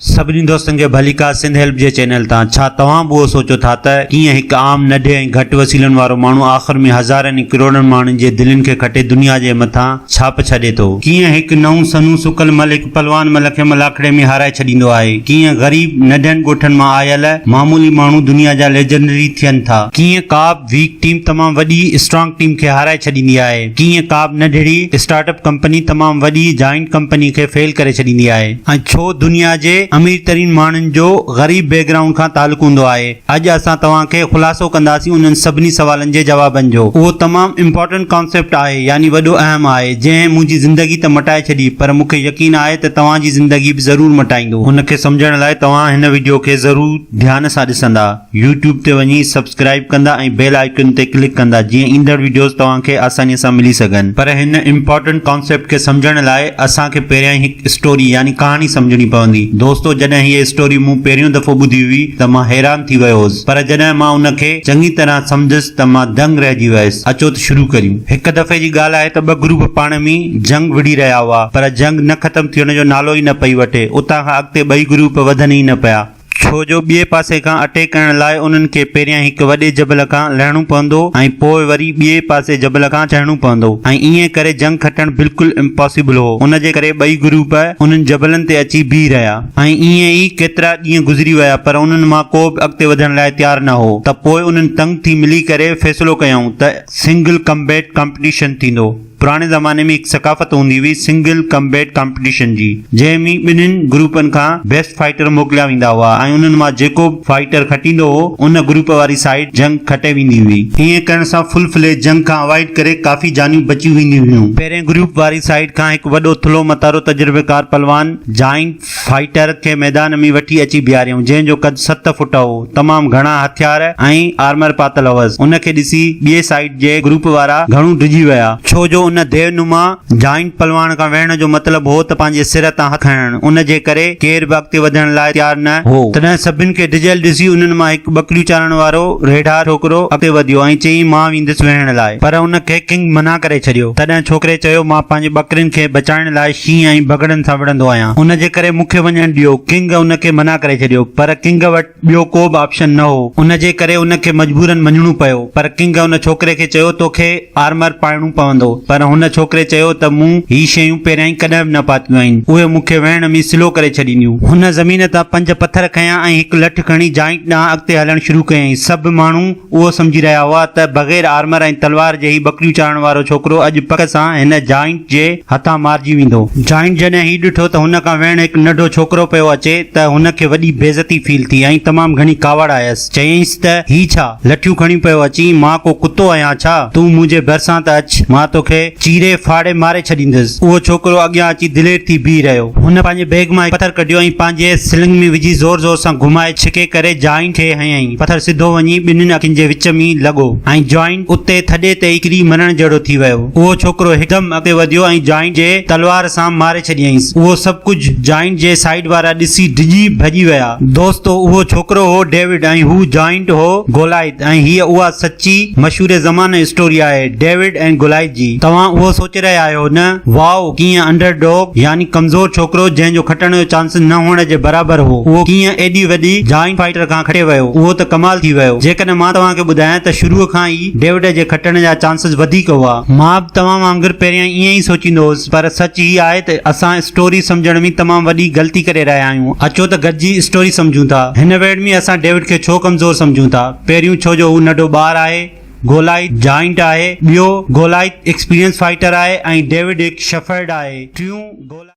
سڀني دوستن کي ڀليڪا سنڌ هيلپ جي چينل تان ڇا توهان به اهو سوچو ٿا ته ڪيئن هڪ عام نڍي ۽ گهٽ وسيلن وارو ماڻهو آخر ۾ هزارن ۽ ڪروڙن ماڻهن جي دلين کي کٽي دنيا جي مٿان ڇاپ ڇڏي ٿو، ڪيئن هڪ نئون سنئون سڪل مل هڪ پلوان مل کي ملاکڙي ۾ هارائي ڇڏيندو آهي، ڪيئن غريب نڍن ڳوٺن مان آيل معمولي ماڻهو دنيا جا ليجنڊري ٿين ٿا، ڪيئن ڪابه ويڪ ٽيم تمام وڏي اسٽرانگ ٽيم کي هارائي ڇڏيندي آهي، ڪيئن ڪابه نڍڙي اسٽارٽ اپ ڪمپني تمام وڏي جائنٽ ڪمپني کي فيل ڪري ڇڏيندي آهي. ۽ ڇو دنيا جي امير ترين ماڻهن جو غريب بيڪ گرائونڊ کان تعلق هوندو آهي؟ اڄ اسان توهان کي خلاصو ڪنداسين انهن سڀني سوالن جي جوابن جو. اهو تمام امپارٽنٽ ڪانسيپٽ آهي يعني وڏو اهم آهي جنهن منهنجي زندگي ته مٽائي ڇڏي پر مونکي يقين آهي ته توهان جي زندگي به ضرور مٽائيندو. ان کي سمجهڻ لاء توهان هن وڊيو کي ضرور ڌيان سان ڏسندا. يوٽيوب تي وڃي سبسڪرائب ڪندا ۽ بيل آئيڪن تي ڪلڪ ڪندا جيئن ايندڙ وڊيوز توهان کي آساني سان ملي سگهن. پر هن امپارٽنٽ ڪانسيپٽ کي سمجهڻ لاء اسان کي پهريائين هڪ اسٽوري يعني ڪهاڻي سمجهڻي پوندي. دوستو جڏهن هيء اسٽوري مون پهريون دفعو ٻڌي هئي ته مان حيران ٿي ويو هوس پر جڏهن مان ان کي چڱي طرح سمجهيس ته مان دنگ رهجي ويس. اچو ته شروع ڪريون. هڪ دفعي جي ڳالهه آهي ته ٻه گروپ پاڻ ۾ جنگ وڙهي رهيا هئا پر جنگ نه ختم ٿيڻ جو نالو ئي نه پئي وٺي. اتان کان اڳتي ٻئي گروپ وڌن ئي نه پيا. ڇو جو ٻئي پاسي کان اٽيڪ ڪرڻ لاء انهن کي پهريان هڪ وڏي جبل کان لهڻو پوندو ۽ پوء وري ٻئي پاسي جبل کان چڙهڻو پوندو ۽ ائين ڪري جنگ کٽڻ بلڪل امپاسيبل هو ان جي ڪري ٻئي گروپ انهن جبلن تي اچي بيهي رهيا ۽ ائين ئي ڪيترا ڏينهن گذري ويا پر انهن مان ڪو به اڳتي وڌڻ لاء تيار نه هو ته پوء انهن تنگ ٿي ملي ڪري فيصلو ڪيائون ته سنگل ڪمبيٽ ڪمپٽيشن ٿيندو. پراڻي زماني ۾ هڪ ثقافت هوندي هئي سنگل ڪمبيٽ ڪمپٽيشن جي جنهن ۾ ٻنهين گروپن کان بيسٽ فائيٽر موڪليا ويندا هئا ۽ انهن مان جيڪو به فائيٽر کٽيندو هو ان گروپ واري سائيڊ جنگ کٽي ويندي هئي. ائين ڪرڻ سان فل فليج جنگ کان اوائيڊ ڪري ڪافي جانيون بچي وينديون هيون. پهرين گروپ واري سائيڊ کان هڪ وڏو ٿلهو متارو تجربيڪار پلوان جائنٽ. فائيٽر کي ميدان ۾ وٺي اچي بيهاريائون، جنهن جو قد ست فٽ هو. تمام گهڻا هٿيار ۽ آرمر پاتل هوس. ان کي ڏسي ٻئي سائيڊ جي گروپ وارا گهڻو ڊڄي ويا. ڇو جو ان ديو نما جائنٽ پلواڻ کان ويهڻ جو مطلب هو ته پنهنجي سر تان هٿ کڻڻ، ان جي ڪري ڪير به اڳتي وڌڻ لاء تيار نه هو. تڏهن سڀن کي ڊڄيل ڏسي انهن مان هڪ ٻڪريون چارڻ وارو ريڍار ڇوڪرو اڳتي وڌيو ۽ چيائين مان ويندس ويهڻ لاء پر ان کي ڪنگ منع ڪري ڇڏيو. تڏهن ڇوڪري چيو مان پنهنجي ٻڪرين کي بچائڻ لاء ڪيئن آئين بگهڙن سان وڙهندو آهيان. ان جي ڪري مون کي وڃڻ ڏيو. ڪنگ ان کي منع ڪري ڇڏيو. پر ڪنگ وٽ ٻيو ڪو به آپشن نه هو. ان جي ڪري ان کي مجبورن مڃڻو پيو. پر ڪنگ ان ڇوڪري کي چيو تو کي آرمر پائڻو پوندو. پر هن ڇوڪري چيو ته مون هي شيون پهريائين ڪڏهن به نه پاتيون آهن. اهي مون کي ويهڻ ۾ سلو ڪري ڇڏينديون. هن زمين تان پنج پٿر کنيا ۽ هڪ لٺ کڻي جائنٽ ڏانهن اڳتي هلڻ شروع ڪيائين. سڀ ماڻهو. اهو سمجهي رهيا هئا ته بغير آرمر ۽ تلوار جي هي ٻڪريون چارڻ وارو ڇوڪرو اڄ پڪ سان هن جائنٽ جي هٿان مارجي ويندو. جائنٽ جڏهن هي ڏٺو ته هن کان ويهڻ هڪ ننڍو ڇوڪرو پيو اچي ته هن کي وڏي بيعزتي فيل ٿي ۽ تمام گهڻي ڪاوڙ آيس. چيائينس ته هي ڇا لٺيون کڻيون پيو اچين، مان ڪو ڪتو آهيان ڇا؟ تون منهنجي ڀرسان ته اچ، مان توکي. چيري ڦاڙي ماري ڇڏيندس. اهو ڇوڪرو اڳيان اچي دلير ٿي بيهي رهيو. هن پنهنجي بيگ مان هڪ پٿر ڪڍيو ۽ پنهنجي سلنگ ۾ وجهي زور زور سان گهمائي ڇڪي ڪري جائنٽ کي هنيائين. پٿر سڌو وڃي ٻنهين اکين جي وچ ۾ لڳو ۽ جائنٽ اتي ٿڏي تي ئي ڪري مرڻ جهڙو ٿي ويو. اهو ڇوڪرو هڪدم اڳتي وڌيو ۽ جائنٽ جي تلوار سان ماري ڇڏيائينس. اهو سڀ ڪجهه جائنٽ جي سائيڊ وارا ڏسي ڊڄي ڀڄي ويا. دوستو اهو ڇوڪرو هو ڊيوڊ ۽ هو جائنٽ هو گولائيٿ. ۽ هيء اها سچي، مشهور زمانه اسٽوري آهي، ڊيوڊ ۽ گولائيٿ جي. توهان اهو سوچي رهيا آهيو نه؟ واء، ڪيئن انڊر ڊوگ، يعني ڪمزور ڇوڪرو، جنهن جو کٽڻ جو چانس نه هئڻ جي برابر هو، اهو ڪيئن ايڏي وڏي جائنٽ فائيٽر کان کٽي ويو؟ اهو ته ڪمال ٿي ويو. جيڪڏهن مان توهان کي ٻڌايان ته شروع کان ئي ڊيوڊ جي کٽڻ جا چانسز وڌيڪ هئا. مان به توهان وانگر پهريائين ائين ئي سوچيندو هوس. پر سچ هي آهي ته اسان اسٽوري سمجهڻ ۾ تمام وڏي غلطي ڪري رهيا آهيون. اچو ته گڏجي اسٽوري سمجهون ٿا. هن ويڙهه ۾ اسان ڊيوڊ کي ڇو ڪمزور سمجهون ٿا؟ پهريون ڇو جو هو ننڍو ٻار آهي، گولائيٿ جائنٽ آهي، ٻيو گولائيٿ ايڪسپيرينس فائيٽر آهي ۽ ڊيوڊ هڪ شيفرڊ آهي، ٽيون گولائيٿ.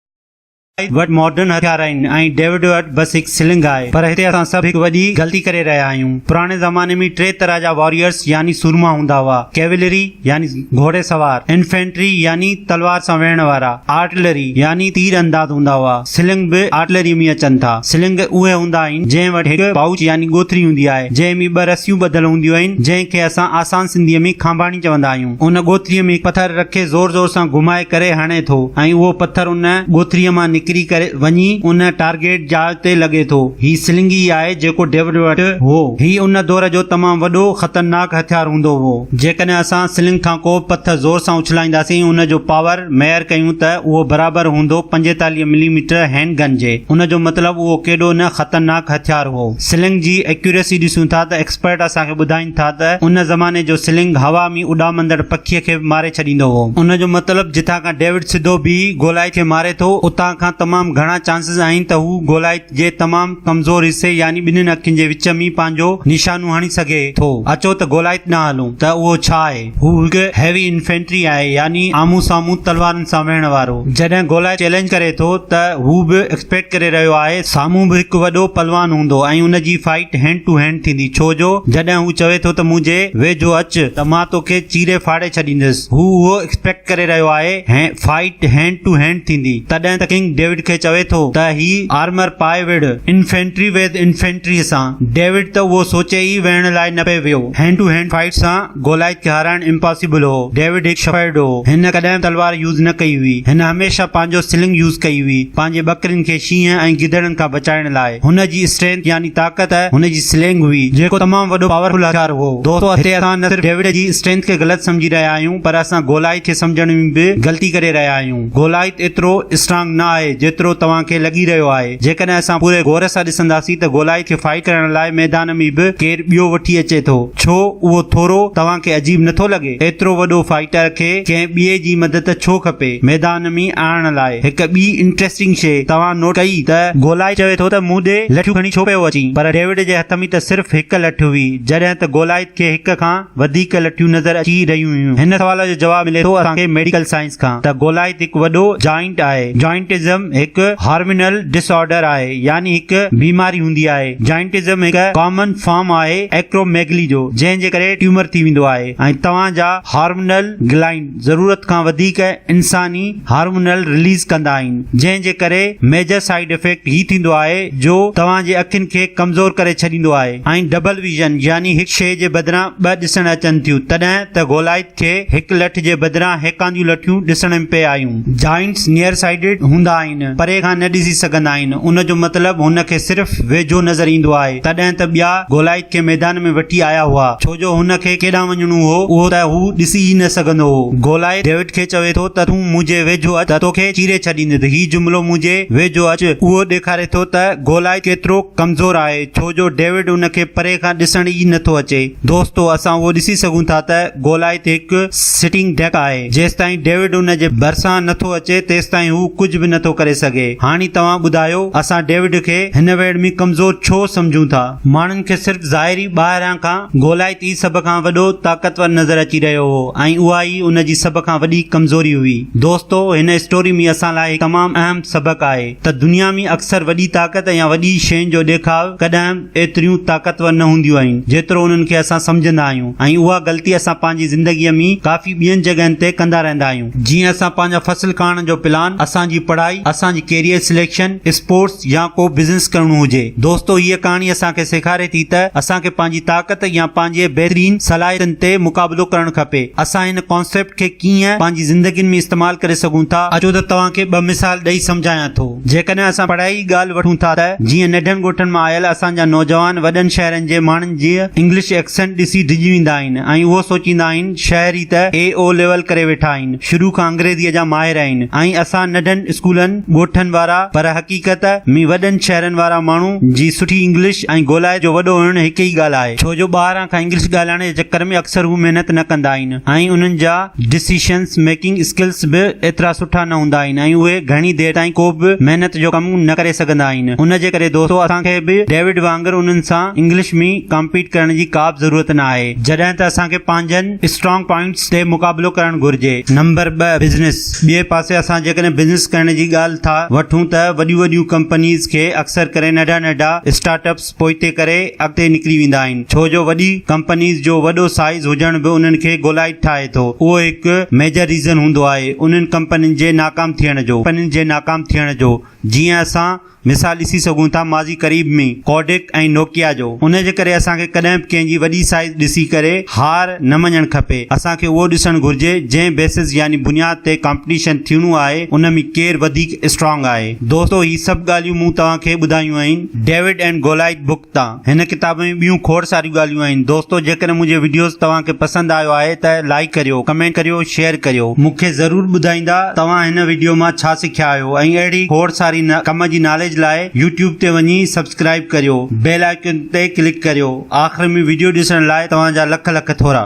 وٽ ماڊرن هٿيار آهن ۽ ڊيوڊ وٽ بس هڪ سلنگ آهي پر هتي اسان سڀ هڪ وڏي غلطي ڪري رهيا آهيون. پراڻي زماني ۾ ٽي طرح جا واريئرس يعني سورما هوندا هئا، ڪيولري يعني گهوڙي سوار، انفينٽري يعني تلوار سان ويهڻ وارا، آرٽلري يعني تير انداز هوندا هئا. سلنگ به آرٽلري ۾ اچن ٿا. سلنگ اهي هوندا آهن جنهن وٽ هڪ پائوچ يعني ڳوٿري هوندي آهي جنهن ۾ ٻه رسيون ٻڌل هونديون آهن جنهن کي اسان آسان سنڌيء ۾ کانڀاڻي چوندا آهيون. ان ڳوٿريء ۾ پٿر رکي زور زور سان گهمائي ڪري هڻي ٿو ۽ اهو پٿر ان ڳوٿريء مان نڪري ڪري وڃي ان ٽارگيٽ جاء تي لڳي ٿو. هي سلنگ ئي آهي جيڪو ڊيوڊ وٽ هو. هي ان دور جو تمام وڏو خطرناڪ هٿيار هوندو هو. جيڪڏهن اسان سلنگ کان ڪو به پٿر زور سان اڇلائينداسين ۽ ان جو پاور ميئر ڪيون ته اهو برابر هوندو پنجيتاليهه ملي ميٽر هينڊ گن جي. ان جو مطلب اهو ڪيڏو نه خطرناڪ هٿيار هو. سلنگ جي ايڪيوريسي ڏسون ٿا ته ايڪسپرٽ اسان کي ٻڌائيندا ٻڌائين ٿا ته ان زماني جو سلنگ هوا ۾ اڏامندڙ پکيء کي به ماري ڇڏيندو هو. ان جو مطلب جتان کان ڊيوڊ سڌو بيهي گولائيت کي ماري ٿو، اتان کان تمام گهڻا چانسز آهن ته هو گولائيت جي تمام ڪمزور حصي يعني ٻنهين اکين جي وچ ۾ پنهنجو نشانو هڻي سگهي ٿو. اچو ته گولائيت ڏانهن هلون ته اهو ڇا آهي؟ هو هڪ هيوي انفينٽري آهي يعني آمهون سامهون تلوارن سان ويهڻ وارو جڏهن گولائي چئلينج ڪري ٿو ته هو به ايڪسپيڪٽ ڪري رهيو آهي سامهون به هڪ وڏو پلوان هوندو ۽ ان جي فائيٽ هينڊ ٽو هينڊ ٿيندي ڇو جو جڏهن هو چوي ٿو ته منهنجي ويجهو اچ ته مان توکي چيري ڦاڙي ڇڏيندس هو اهو ايڪسپيڪٽ ڪري رهيو آهي فائيٽ هينڊ ٽو هينڊ ٿيندي تڏهن ته ڪنگ ڊيوڊ کي چوي ٿو ته هي آرمر پائي وڙهه انفينٽري ويد انفينٽري سان ڊيوڊ ته اهو سوچي ئي ويهڻ لاء نه پئي ويو هينڊ ٽو هينڊ فائيٽ سان گولائيت هارائڻ امپاسيبل هو. ڊيوڊ هڪ شفيرڊ هو. هن ڪڏهن به تلوار يوز نه ڪئي هئي. هن هميشه پنهنجو سلنگ يوز ڪئي هئي. پنهنجي ٻڪرين کي شينهن ۽ گدڙن کان بچائڻ لاء. هن جي اسٽرينٿ يعني طاقت هن جي سلينگ هئي. جيڪو تمام وڏو پاورفل هٿيار هو. دوستو هتي اسان نه صرف ڊيوڊ جي اسٽرينٿ کي غلط سمجهي رهيا آهيون پر اسان گولائيت کي سمجهڻ ۾ به غلطي ڪري رهيا آهيون. گولائيت ايترو اسٽرانگ نه آهي جيترو توهان کي لڳي رهيو آهي. جيڪڏهن اسان پوري غور سان ڏسنداسين ته گولائي کي ڦاهي ڪرڻ لاء ميدان ۾ به ڪير ٻيو وٺي اچي ٿو. ڇو اهو ٿورو توهان کي عجيب نٿو لڳي؟ ايترو وڏو فائيٽر کي ڪنهن ٻئي جي مدد ڇو کپي ميدان ۾ آڻڻ لاء؟ هڪ ٻي انٽريسٽنگ شيء توهان نوٽ ڪئي ته گولائي چوي ٿو ته مون ڏي لٺيون کڻي ڇو پيو اچين؟ پر ڊيوڊ جي هٿ ۾ ته صرف هڪ لٺ هئي جڏهن ته گولائي کي هڪ کان وڌيڪ لٺيون نظر اچي رهيون هيون. هن سوال جو جواب ملي ٿو اسان کي ميڊيڪل سائنس. کان ته گولائت هڪ وڏو جوائنٽ آهي. جوائنٽزم هڪ هارمينل ڊس آرڊر آهي يعني هڪ بيماري هوندي آهي. جوائنٽزم هڪ ڪامن فارم آهي ايڪروميگلي جو جنهن جي ڪري ٽيومر ٿي ويندو آهي ۽ توهان جا هارمونل گلائنڊ ضرورت کان وڌيڪ انساني هارمونل رليز ڪندا آهن جنهن جي ڪري ميجر سائيڊ افيڪٽ هي ٿيندو آهي جو توهان جي اکين کي ڪمزور ڪري ڇڏيندو آهي ۽ ڊبل ويزن يعني هڪ شيء جي بدران ٻه ڏسڻ اچن ٿيون تڏهن ته گولائت کي هڪ لٺ جي بدران هيڪانديون لٺيون ڏسڻ ۾ پئي آيون. جائنٽس نيئر سائيڊڊ هوندا آهن، پري کان نه ڏسي سگهندا آهن، ان جو مطلب هن کي صرف ويجهو نظر ايندو آهي، تڏهن ته ٻيا گولائيٿ کي ميدان ۾ وٺي آيا هئا، ڇو جو هن کي ڪيڏانهن وڃڻو هو، اهو ته هو ڏسي ئي نه سگهندو هو. گولائيٿ ڊيوڊ کي چوي ٿو ته تون منهنجي ويجهو اچ ته توکي چيري ڇڏيندس، هي جملو منهنجي ويجهو اچ اهو ڏيکاري ٿو ته گولائيٿ ڪيترو ڪمزور آهي، ڇو جو ڊيوڊ ان کي پري کان ڏسڻ ئي نه ٿو اچي. دوستو اسان اهو ڏسي سگهون ٿا ته گولائي تي هڪ سٽنگ ڊڪ آهي جيستائين ڊيوڊ ان جي ڀرسان نه ٿو اچي تيستائين هو ڪجهه به نه ٿو ڪري سگهي هاڻي توهان ٻڌايو اسان ڊيوڊ کي هن ويڙهه ۾ ڪمزور ڇو سمجهون ٿا؟ ماڻهن کي صرف ظاهري ٻاهران کان گولائي تي سڀ کان وڏو طاقتور نظر اچي رهيو هو ۽ اها ئي ان جي سڀ کان وڏي ڪمزوري هئي دوستو هن اسٽوري ۾ اسان لاء هڪ تمام اهم سبق آهي ته دنيا ۾ اڪثر وڏي طاقت يا وڏي شين جو ڏيکاء ڪڏهن ايتريون طاقتور نه هونديون آهن جيترو انهن کي اسان سمجهندا آهيون ۽ اها غلطي اسان پنهنجي زندگيء ۾ ڪافي ٻين جڳهين تي ڪندا رهندا آهيون. جيئن اسان پنهنجا فصل ڪاڻڻ جو پلان، اسان جي پڙهائي، اسان جي ڪيريئر سليڪشن، اسپورٽس يا ڪو بزنس ڪرڻو هجي. دوستو هيء ڪهاڻي اسان کي سيکاري ٿي ته اسان کي پنهنجي طاقت يا پنهنجي بهترين صلاحيتن تي مقابلو ڪرڻ کپي. اسان هن ڪانسيپٽ کي ڪيئن پنهنجي زندگين ۾ استعمال ڪري سگهون ٿا؟ اچو ته توهان کي ٻه مثال ڏئي سمجهايان ٿو. جيڪڏهن اسان پڙهائي جي ڳالهه وٺون ٿا ته جيئن ننڍن ڳوٺن مان آيل اسان جا نوجوان وڏن شهرن جي ماڻهن جي انگلش ايڪسنٽ ڏسي ڊڄي ويندا آهن ۽ اهو سوچيندا آهن شهري ته اي او ليول ڪري ويٺا آهن شروع کان انگريزيء جا ماهر آهن ۽ اسان ننڍن اسڪولن ڳوٺن وارا پر حقيقت ۾ وڏن شهرن وارا ماڻهو جي سٺي انگلش ۽ گولائي جو وڏو هئڻ هڪ ئي ڳالهه آهي ڇو جو ٻاهران کان انگلش ڳالهائڻ جي چڪر ۾ اڪثر هو محنت نه ڪندا آهن. ۽ انهن جا ڊسيشنس ميڪنگ اسڪلس به ايترا سٺا نه هوندا آهن ۽ اهي گهڻي دير تائين ڪو به محنت جو ڪم نه ڪري سگهندا آهن ان جي ڪري دوستو اسان کي به ڊيوڊ وانگر انهن سان انگلش ۾ ڪامپيٽ ڪرڻ جي ڪابه ضرورت نه آهي جڏهن ته اسان کي پنهنجن اسٽرانگ پوائنٽس تي مقابلو ڪرڻ گهرجي. نمبر ٻه بزنس ٻئي پاسي اسان جيڪڏهن بزنس ڪرڻ جي ڳالهه ٿا وٺون ته وڏيون وڏيون ڪمپنيز کي اڪثر ڪري ننڍا ننڍا اسٽارٽ اپس پوئتي ڪري اڳتي نڪري ويندا آهن ڇو جو وڏي ڪمپنيز جو وڏو سائيز هجڻ به انهن کي گولائيٽ ٺاهي ٿو اهو هڪ ميجر ريزن هوندو آهي انهن ڪمپنين جي ناڪام ٿيڻ جو ڪمپنين جي ناڪام ٿيڻ جو جيئن اسان مثال ڏسي سگهون ٿا ماضي قريب ۾ ڪوڊڪ ۽ نوڪيا جو ان جي ڪري اسان کي ڪڏهن به ڪنهن جي وڏي سائيز ڏسي ڪري هار نه مڃڻ کپي اسان کي اهو ڏسڻ گهرجي جنهن بيسس يعني بنياد تي ڪمپٽيشن ٿيڻو آهي ان ۾ ڪير وڌيڪ اسٽرانگ آهي دوستو هي سڀ ڳالهيون مون توهان کي ٻڌايون آهن. ڊيوڊ اينڊ گولائيٿ بوڪ تان هن ڪتاب ۾ ٻيون کوڙ ساريون ڳالهيون آهن دوستو جيڪڏهن منهنجي وڊيوز توهان کي پسند آيو آهي ته لائيڪ ڪريو ڪمينٽ ڪريو شيئر ڪريو مون کي ضرور ٻڌائيندا توهان هن وڊيو مان ڇا سکيا آهيو ۽ اهڙي کوڙ ساري نه ڪم جي ناليج لاء يوٽيوب تي وڃي سبسڪرائيب ڪريو بيل آئيڪن تي ڪلڪ ڪريو آخر ۾ وڊيو ڏسڻ لاء توهان جا لک لک ٿورا.